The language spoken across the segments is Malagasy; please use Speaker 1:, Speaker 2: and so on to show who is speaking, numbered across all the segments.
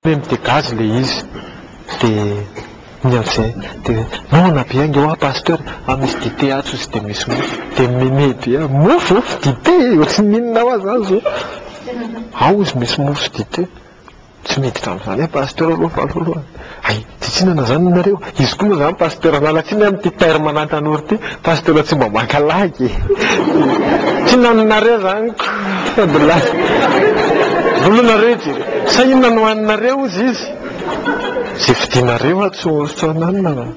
Speaker 1: Hoe mi-dégage le izy de ny an'zay de non nampihaingo hoa pasteur a misy dite atsy ozy de misy mofo de mimeme be a mofo ô dite e ohatry ny inona hoa zany zao ao ozy misy mofo sy dite tsy miditra am'zany e pasteur aloha falo voalohany hay Tsy tsinana zany nareo. Izy koa moa zany pasteur an'ala tsiny an ty terme an'an tanora ty pasteur tsy mba maka lagy e! Tsinana nareo zany ko! Fadilahyi! Vola nareo ity! Sa inona no haninareo hozy izy? Ze vidinareo ato tsy tsy hananina an!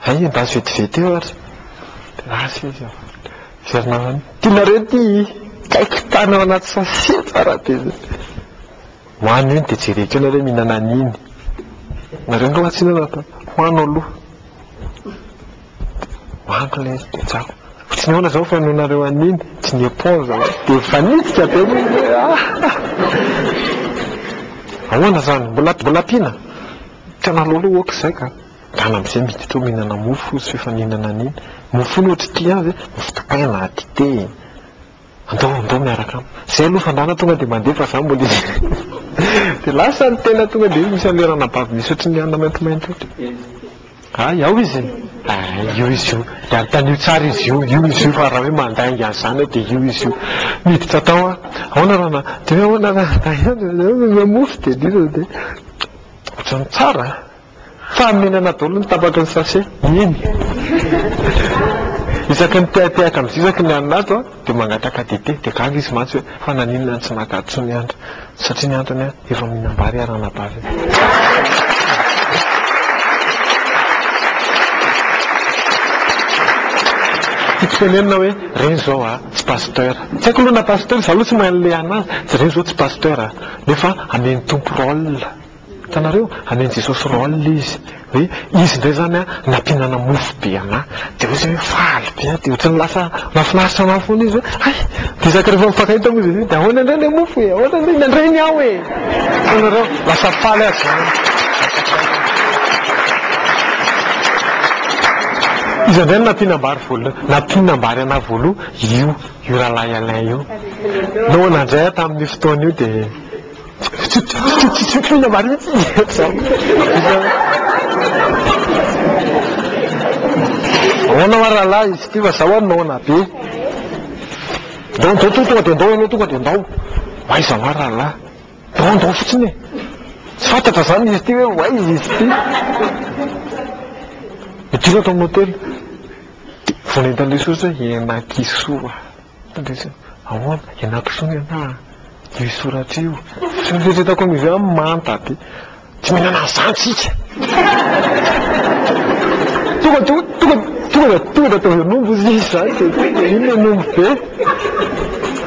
Speaker 1: Hay endazy vetivety eo ary! De lasa izy an! Miverina any! Ty nareo ty! Kaikitana ao anaty sachet tsara be zay! Ho any ony dia jereko eo nareo mihinana an'iny. Nareo angaha tsy hihinana fa ho any aloha. Ho any ilay izy dia tsapa. Fa tsy nihaona izao fa noho nareo an'iny, tsy ni-éponge za. Dia mifanitsika be ny olona. Ahoana izany? Mbola mbola ampiana? Tsy anareo aloha ok izay ka. Ngah na amin'izay miditra ao mihinana mofo izy sao efa nihinana an'iny. Mofo iny ohatry ity azy, mofo dipaina, dite. Andao andao miaraka amiko. Zay aloha fandrana tonga dia mandeha fa za mbola eo. Dia lasa ny tena tonga dia misy an'ilay ranabavy misy ohatry ny anona maintimainty ohatry. Hay ao izy e! Hay io izy io. Dia anontanio tsara izy io, io izy io fa raha hoe mandainga an'izany aho dia io izy io. Miditra tao aho. Ahoana ranà? Dia hoe ahoana ranà? Hay any, mofo dia dia. Ohatran'ny tsara a! Fahamenana daholo ny tapak'i ny sachet. Eny. Isaky ny tehatehaka amin'ny zizaky ny anona ato an, dia mangataka dite, dia gaga izy mantsy hoe fa naninona no tsy naka ato tsony andry? Satria ny antony an, efa mihinam-bary ary anabavy an. Tiako tenenina hoe ireny izao an, tsy pasteur. Tsy haiko aloha na pasteur, izaho aloha tsy mahay an'ilay anona azy, ireny izao tsy pasteur an, nefa amen'ny Tompo rôle. Hitanareo? Hamen'i Jesosy rôle izy. Hoe izy indray izany an, nampihinana mofo be anà. Dia hoe izay hoe faly be an, dia ohatran'ny lasa mahafinaritra anà foana izy hoe hay! Dia isaka rehefa mifankahita moa izy hoe dia ahoana indray ilay mofo e? Ahoana indray? Nandray ny ahy e! Hitanareo? Lasa faly azy izany. Iza indray no nampihinam-bary voalohany? Nampihinam-bary anà voalohany io, io rahalahy Alain io. Noana indray an, tamin'io fotoana io dia. Tsikina marina tsy mety zany. Ahoana hoa rahalahy izy ity fa za hoa noana be. Ndao ndao to tonga dia ndao ianao tonga dia ndao. Ho aiza hoa rahalahy. Ndao ndao fotsiny e. Tsy fantatra zany izy ity hoe ho aiza izy ity. Midina tao amin'ny hotely. Vao nentin'ilay soja hoe henakisoa. Fandraisana, Ahoana? Ianakizony anà an! Io soratra io. Tsy noeritreretako an'io ve an manta be. Tsy mihinana an'izany tsika. Tonga dia tonga dia tonga dia ataovy an'omby izy izany dia tonga dia iny ilay omby be.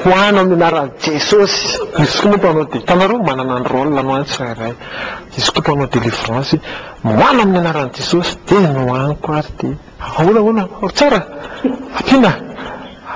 Speaker 1: Ho any amin'ny anaran'i Jesosy. Izy koa moa mpanao dia, hitanareo manana ny rôle anao ny tsirairay. Izy koa mpanao délivrance hoe ho any amin'ny anaran'i Jesosy dia nohaniko ary dia. Ahoana ahoana ao tsara? Ampiana?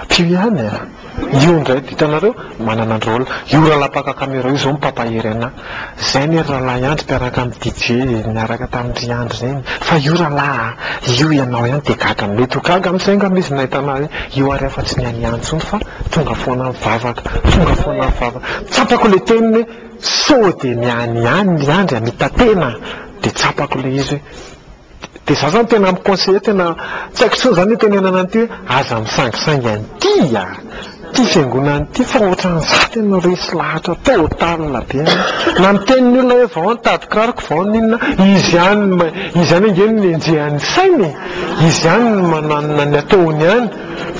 Speaker 1: Ampio ihany e! Io indray hitanareo manana rôle. Io rahalahy mpaka camera io izao no mpampahery anah. Izay anie ry rahalahy Andry mpiaraka amin'i DJ niaraka tamin-dry Andry ireny. Fa io rahalahy a! Io ianao ihany dia gaga. Mety ho gaga amin'izay angamba izy nahita anah hoe io ary aho fa tsy ny an'i Andry intsony fa tonga foana mivavaka, tonga foana mivavaka. Tsapako ilay teniny hoe sao dia ny an'i Andry, Andry a, mitatena. Dia tsapako ilay izy hoe Dia za zany tena mi-conseiller tena tsy haiko intsony zany itenenana an'ity hoe aza misangisangy an'ity a! Ity fiangonana ity fa ohatran'ny za tena resy lahatra total be an! Na miteny ny olona hoe vao nitady kiraro ko vao n'inona, izy ihany no izy ihany ange no nenjehan'ny sainy e! Izy ihany no mananona ny ataony ihany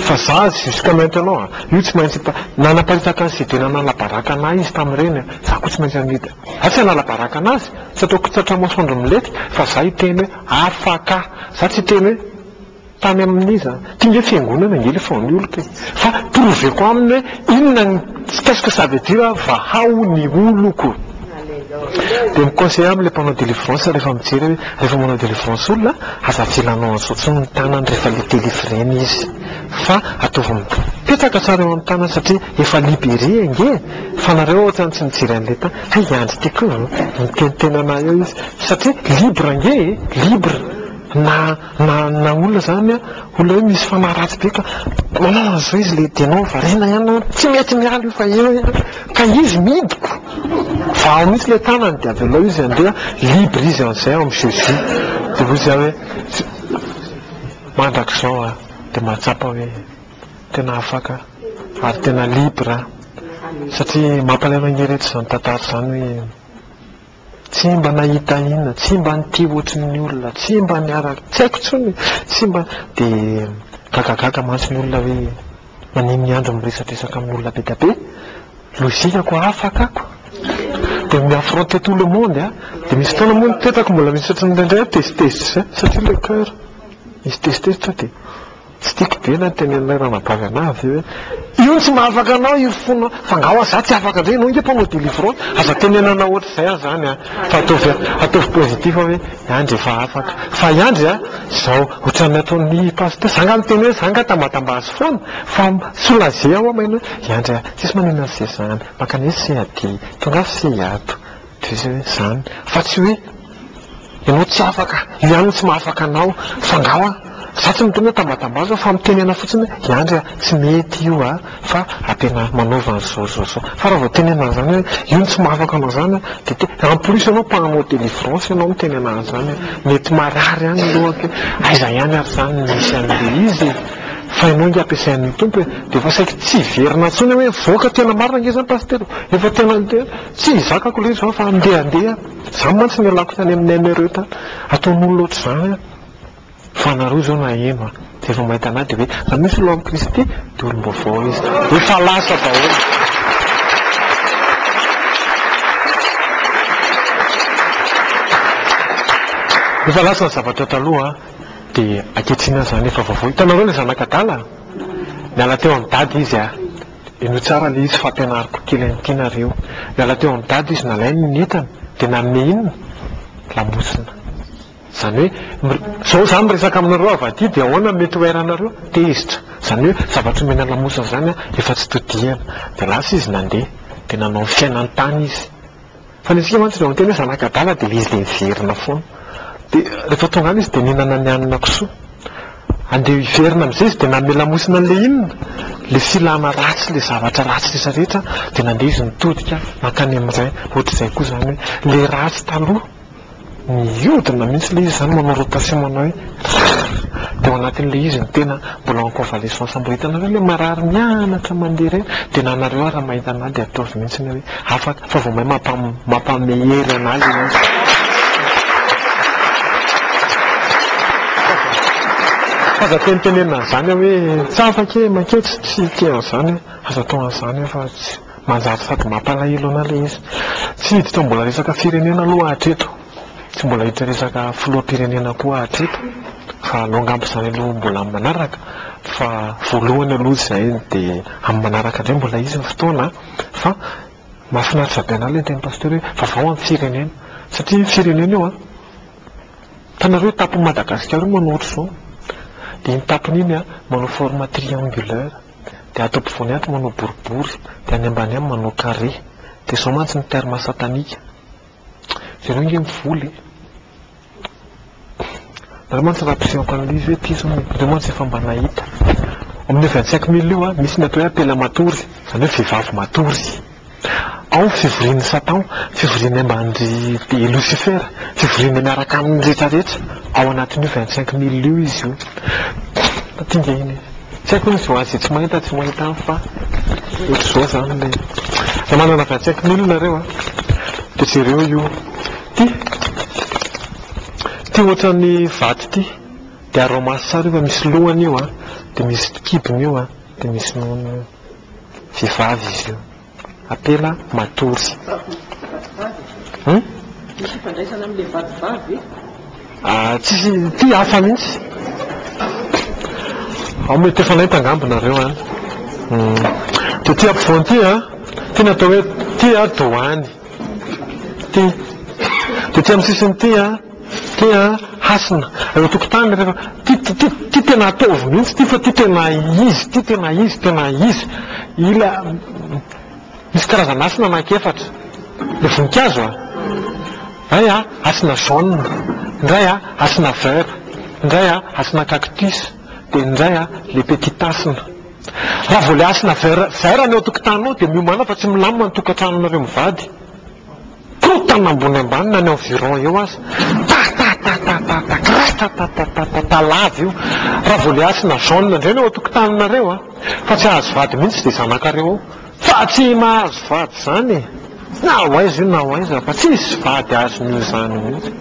Speaker 1: fa za jusqu'à maintenant io tsy maintsy nanapariaka an'i Sydena nanabaraka an'ahy izy tamin'ireny a! Za ko tsy maintsy amidy. Za tsy hanala baraka anazy, tsy ataoko tratra masoandro milety fa za hiteny hoe afaka, za tsy hiteny hoe tany amin'iza, ty nge fiangonana nge le fanioloko e, fa prouver-ko aminy hoe inona ny qu'est-ce que ça veut dire vahao ny oloko, de mi-conseiller aminy le mpanao delivrance rehefa mijery aho hoe rehefa manao delivrance olona aza avela anao an'zao tsony ny tanany rehefa le delivrer-na izy. fa ataovy mipetraka tsara eo amin'ny tanana satria efa libere ange e! fa nareo ohatrany tsy mijery an'ilay tany, hay i Andry ty koa miteniteny anah eo izy satria libre ange e! libre na na na olona zany olona hoe misy fanahy ratsy be ka manao an'izao izy le dianao variana ihany na tsy mety miala io fa eo ihany ka izy midiko fa ao mihitsy le tanany dia avy aleo izy andeha libre izy an'izay ao amin'ny jeu-jeu dia hoy zah hoe mandrakizao a! dia mahatsapa hoe tena afaka ary tena libre aho satria mampalahelo ange reto izany tantara izany hoe tsy mba nahita inona, tsy mba nitia ohatry ny olona, tsy mba niaraka, tsy haiko intsony e, tsy mba, dia gagagaga mantsy ny olona hoe maninona i Andry miresadresaka amin'olona be dia be, logique ko afaka ako, dia mi affronter tout le monde dia misy fotoana moa ny tetako mbola misy ohatry ny indraindray tezitezitra izay satria le coeur. Izy tester sao dia tsy tiako be na tenenina ranabavy anah avy eo hoe io no tsy mahafaka anao io fona fa nga hoa za tsy afaka ndray enao nga mpanao delivrance aza tenenana ohatr'izay ah zany ah fa ataovy ataovy positif hoe iandry efa afaka fa iandry ah zao ohatran'ny ataon'ny pasteur za nga miteny hoe za nga tambatamba azy foana fa soulager aho maina hoe iandry ah tsisy maninona an'se zany mankany etsy se aty tongava se hiato Zay zany fa tsy hoe ianao tsy afaka, i Andry tsy mahafaka anao fa angaha a! za tsy miteny hoe tambatambazo fa mitenena fotsiny hoe i Andry a! tsy mety io a! fa a tena manaova an'izao zao zao fa raha vao tenenina an'izany hoe io no tsy mahafaka anao zany a! de te en plus ianao mpanao delivrance ianao miteny anaha zany hoe mety marary any ny lohako e! aiza ihany ary zany no misy an'le izy e! fa ianao nge ampiasain'ny Tompo e! de efa saiky tsy hiverina intsony hoe mivoaka tena marina nge zany pasitera o! efa tena Tsy ny zakako lery zao fa andeha andeha any. Zany mantsy nialako tany amin'ny emereut ataon'olona ohatr'izany an! Fa anareo zao naheno an! Rehefa mahita anah dia hoe raha misy olona amin'i Kristy dia olom-baovao izy. Efa lasa daholo. Efa lasa ny zavatra taloha an! Dia ankehitriny aza zany efa vaovao. Hitanareo ilay zanak'adala? Niala teo amin'i dada izy an! Henoy tsara ilay izy fa ampianariko kely an'ity nareo. Niala teo amin'i Dada izy nalainy ny entany dia nanome inona? Lamosina. Izany hoe izao izaho miresaka aminareo avy aty dia ahoana no mety ho air anareo? Tezitra. Izany hoe zavatra omena lamosina izany efa tsy todihana. Dia lasa izy nandeha. Dia nanao ny fiainany tany izy. Fa ny antsika mantsy rehefa miteny hoe zanaka adala dia ilay izy dia miverina foana. Dia rehefa tonga any izy dia mihinana ny hanina kisoa. Andeha hiverina amin'izay izy dia nanome lamosina an'ilay inona? Ilay filana ratsy, ilay zavatra ratsy rehetra rehetra dia nandeha izy nitodika nankany amin'ny Ray. Ohatr'izay koa izany hoe ilay ratsy taloha. Mihodina mihitsy ilay izy izany manao rotation manao hoe rrrr dia ao anatin'ilay izy ny tena mbola en convalescence mbola hitanareo ilay marary mianatra mandeha ireny dia na anareo ary raha mahita an'ahy dia ataovy mihitsy ny hoe afaka fa vao may mampame hery an'ahy ilay izy aza tenitenenina an'izany aho hoe tsy afaka e, makeo tsy tia an'izany aho, aza atao an'izany aho fa tsy. Manjary sady mampalahelo anà ilay izy. Tsy hiditra mbola resaka firenena aloha hatreto. Tsy mbola hiditra resaka filoham-pirenena koa hatreto fa aleo angamba izany aloha mbola amin'ny manaraka fa voalohany aloha izay dia amin'ny manaraka indray mbola hisy ny fotoana fa mahafinaritra be anà ilay ntenin'i Pasteur hoe vaovao amin'ny firenena satria io firenena io an, hitanareo io tapon'i Madagasikara io manao ohatr'izao dia iny tapony iny manao forme triangulaire. Dia ato ampovoany ato manao boribory, dia any ambany any manao carré. Dia izao mantsy ny terme satanique. Ianao ange mivola e! Nareo mantsy raha mpiseho ankan'ilay izy hoe ty izao nareo mantsy efa mba nahita. Amin'ny vingt cinq mille io an, misy ny atao hoe apela matory, izany hoe vehivavy matory. Ao fivorian'i Satan, fivoriany ambany dia Losifera, fivoriany miaraka aminy rehetra rehetra, ao anatin'io vingt cinq mille io izy io. Dinga iny e! Tsy haiko hoe misy ho an'izay tsy mahita tsy mahita any fa ohatr'izao izany ilay izy. Raha manana vingt cinq mille nareo a, dia jereo io. Ity, ity ohatran'ny vato ity, dia araho maso tsara io fa misy lohany io a, dia misy kibony io a, dia misy nonony io. vehivavy izy io. Apela matory. Hum? Misy ifandraisana amin'ilay vadivavy ve? Ah, tsisy, ity hafa mihitsy. Ao mety efa naita angamba nareo an. Hum. Dia ity ampovoany ity an, ity natao hoe ity an doany. Ity. Dia ity amin'ny sisiny ity an. Ity an, hasina, eo an-tokotany rehefa, ity, ity, ity tena ataovy mihitsy ity fa ity tena izy ity, tena izy, tena izy. Ila, misy karazana hasina anankiefatra. Ilay voninkazo an, iray an, hasina jaune, indray an, hasina vert, indray an, hasina cactus, dia ny indray an, ilay petit hasina. Raha vao ilay hasina vert, vert ny eo an-tokotaninao dia miomàna fa tsy milamina ny tokantranonareo mivady. Korontana ambony ambany na ny environ eo aza. Tatatatata kratatatatata lava io. Raha vao le hasina jaune indray ny ao an-tokotaninareo a! Fa tsy hahazo vady mihitsy izay zanakareo ao. Fa tsy mahazo vady izany e! Na ho aiza io na ho aiza fa tsisy vady azony io izany mihitsy.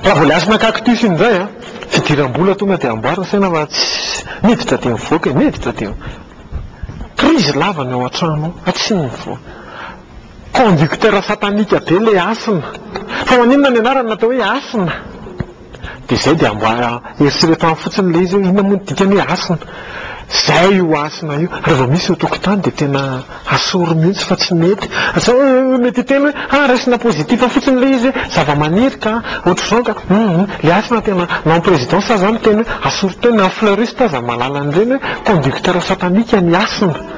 Speaker 1: Raha vao le hasina cactus iny indray a! Fidiram-bola tonga dia amboary ny saina fa tsisy, miditra dia mivoaka e! Miditra dia. Krizy lava ny ao an-trano ao, fa tsy mivoaka. Conducteur satanika be ilay Hasina. Fa maninona ny anarany natao hoe Hasina? Dia izay dia mba eritrereto any fotsiny ilay izy hoe inona moa ny dikany hoe Hasina? Izay io Hasina io. Raha vao misy eo an-tokotany dia tena asory mihitsy fa tsy mety. Sao mety hiteny hoe ah raisina positif fotsiny ilay izy hoe zavamaniry ka, ohatr'izao ka. Hum. Ilay Hasina tena, na en président sazy aza miteny hoe asory tena, en fleuriste aza mahalala an'ireny hoe conducteur satanika ny Hasina.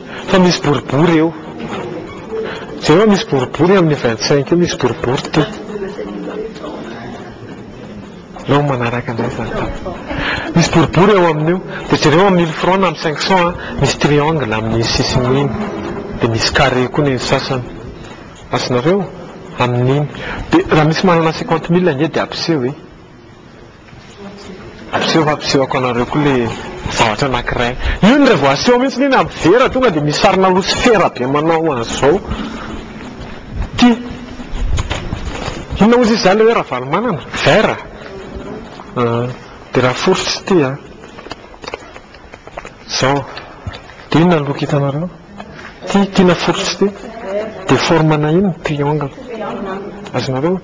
Speaker 1: Fa misy boribory eo. Jereo misy boribory amin'ny vingt cinq io misy boribory ity. Aleo manaraka anay zany tany. Misy boribory eo amin'io. Dia jereo amin'ny mille francs na amin'ny cinq cents an, misy triangle amin'ny sisiny iny. Dia misy carré koa ny sasany. Azonareo? Amin'iny. Dia raha misy manana cinquante mille ange dia ampiseho e. Aseho fa ampisehoako anareo koa le zavatra anankiray. Iny re vao aseho mihitsy iny amin'ny vera tonga dia misy sarina losifera be manao an'izao. Ty. Inona hozy izy izany le hoe Ravalomanana? Vera? Dia raha foritra ity an. Izao. Dia inona ny loko hitanareo? Ty, ty na foritra ity. Dia forme-na inona? Triangle. Azonareo?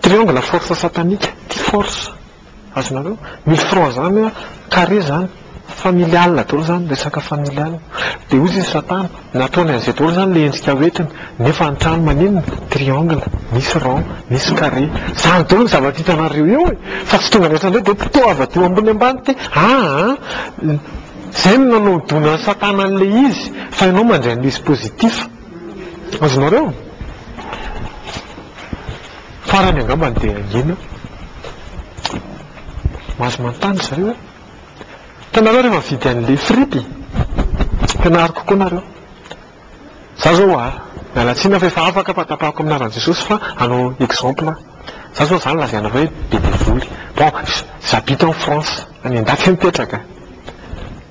Speaker 1: Triangle force satanique ty force azonareo ny front zany a carré zany familial daholo zany resaka familial de ozy izy satana nataony an'izay daholo zany le endrika ho entiny nefa ny trano maninona triangle misy rond misy carré zany daholo ny zavatra hitanareo eo e fa tsy tonga netra ndray de pitoava teo ambony ambany ty aa zay no nanodonan'i satana an'le izy fa ianao mandray an'le izy positif Azonareo? Farany angambany dia hangina. Mahazo manontany zareo hoe, hitanareo rehefa mividy an'ilay frity, ampianariko kokoa nareo. Za zao a, miala tsiny fa efa afaka fa tapahako amin'ny anaran'i Jesosy fa hanao exemple aho. Za zao za no lazainareo hoe be devoly. Bon, j'habite en France, any an-dafy mipetraka.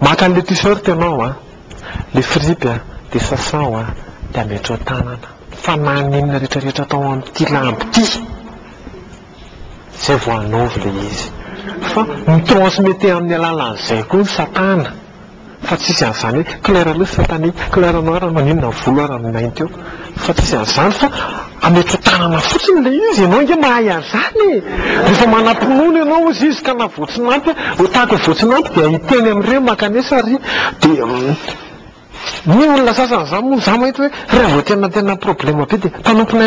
Speaker 1: Maka an'ilay t-shirt ianao an, ilay fripy an, dia sasao an, dia ametraho an-tanana. Fa na ny inona rehetra rehetra atao amin'ity lamba ity, izay vao hanaovy ilay izy. Fa mi-transmetter amin'ny alalan'izay koa ny satana. Fa tsy izy an'izany hoe couleur rouge satanique, couleur noire maninona volo ary ny mainty eo. Fa tsy izy an'izany fa ametso tanana fotsiny ilay izy, ianao ange mahay an'izany e! Rehefa manam-pinoana ianao hozy izy ka na voatsinanty a, ho tahaka ny voatsinanty dia hiteny amin'ireo mankanesa ary dia ny olona sasany izany moa izaho mahita hoe raha vao tena tena problema be dia mpanompon'aina